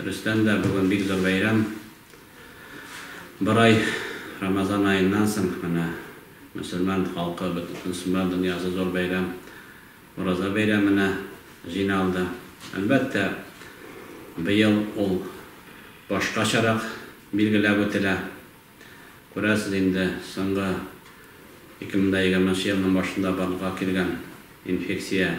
Дөрестән дә, бүген бик зур бәйрәм. Бер ай, Рамазан аеннан соң, менә мөселман халкы, бөтен мөселман дөньясы зур бәйрәм, Ураза бәйрәменә җыйналды. Әлбәттә, быел ул башкачарак билгеләп үтелә. Күрәсез инде, соңгы 2020 елның башында барлыкка килгән инфекция,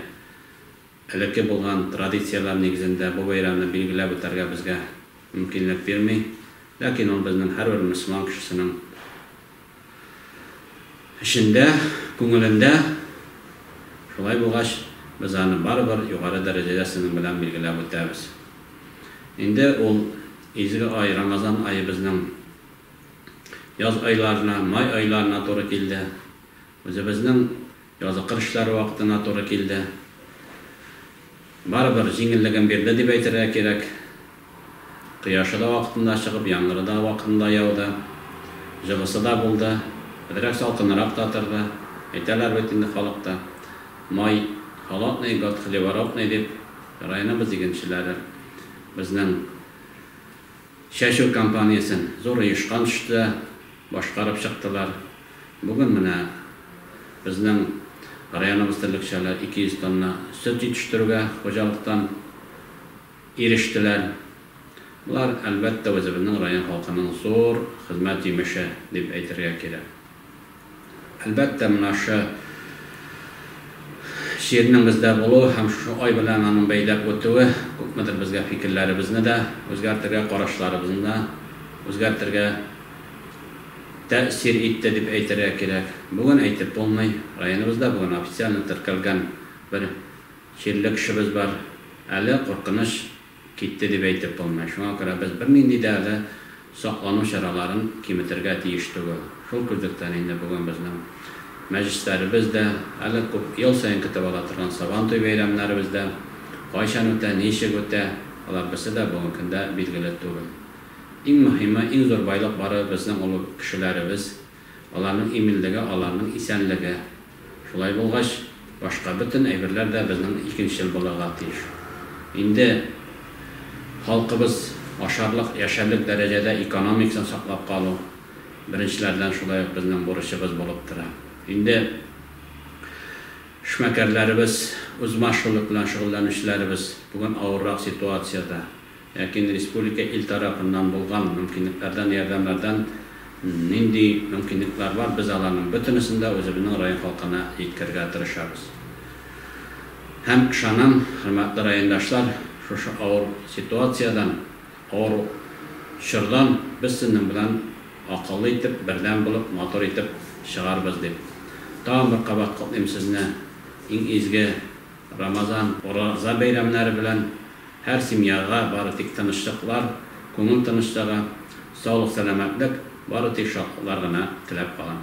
Элекке булган традицияләр нигезендә бу бәйрәмне билгеләп үтәргә безгә мөмкинлек бирми, ләкин ул безнең һәрбер мөселман кешесенең эчендә, күңелендә, шулай булгач, без аны барыбер югары дәрәҗәдә сезнең белән билгеләп үтәбез. Инде ул изге ай, Рамазан аебызның яз айларына, май айларына туры килде. Үзебезнең. Язгы кыр эшләре вакытына туры килде. Барыбер җиңеллеген бирде дип әйтергә кирәк. Кояшы да вакытында чыгып, яңгыры да вакытында яуды. Җылысы да булды. Әзрәк салкынрак та торды. Әйтәләр бит инде халыкта, Май холодный, год хлевородный, дип. Районыбыз игенчеләре безнең Чәчү кампаниясен зур оешкан төштә башкарып чыктылар. Бүген менә безнең районыбыз терлекчәләр 200 тонна сөт җитештерүгә хуҗалыктан ирештеләр. Болар, әлбәттә, үзебезнең район халкының зур хезмәт җимеше дип әйтергә кирәк. Әлбәттә, менә шы җирнең бездә булуы һәм шушы ай белән аның бәйләп үтүе күпмедер безгә фикерләребезне дә үзгәртергә, карашларыбызны да үзгәртергә тәэсир итте дип әйтергә кирәк. Бүген әйтеп булмый. Районыбызда бүген официально теркәлгән бер чирле кешебез бар. Әле, куркыныч. Китте дип әйтеп булмый. Шуңа күрә без бернинди дә әле саклану чараларын киметергә тиеш түгел. Шул күзлектән инде бүген безнең мәҗлесләребез дә, әле күп ел саен көтеп ала торган Сабантуй бәйрәмнәребез дә кайчан үтә, ничек үтә, алар берсе дә бүгенге көндә билгеле түгел. Иң мөһиме, иң зур байлык барыбыз безнең олуг кешеләребез, аларның иминлеге, аларның исәнлеге. Шулай булгач, башка бөтен әйберләр дә безнең икенчел булырга тиеш. Инде халкыбыз ашарлык, яшәрлек дәрәҗәдә экономикасын саклап калу беренчеләрдән шулай ук безнең бурычыбыз булып тора. Инде эшмәкәрләребез, үзмашгульлек белән шөгыльләнүчеләребез бүген авыррак ситуациядә. Ләкин республика ил тарафыннан булган мөмкинлекләрдән, ярдәмнәрдән нинди мөмкинлекләр бар, без аларның бөтенесен дә үзебезнең район халкына җиткерергә тырышабыз. Һәм ышанам, хөрмәтле райондашлар, шушы авыр ситуациядән, авыр чордан без сезнең белән акыллы итеп, бердәм булып, матур итеп чыгарбыз дип, тагын бер кабат котлыйм сезне иң изге, Рамазан, Ураза бәйрәмнәре белән һәр семьяга бары тик тынычлыклар, күңел тынычлыгы, саулык-сәламәтлек, бары тик шатлыклар гына теләп калам.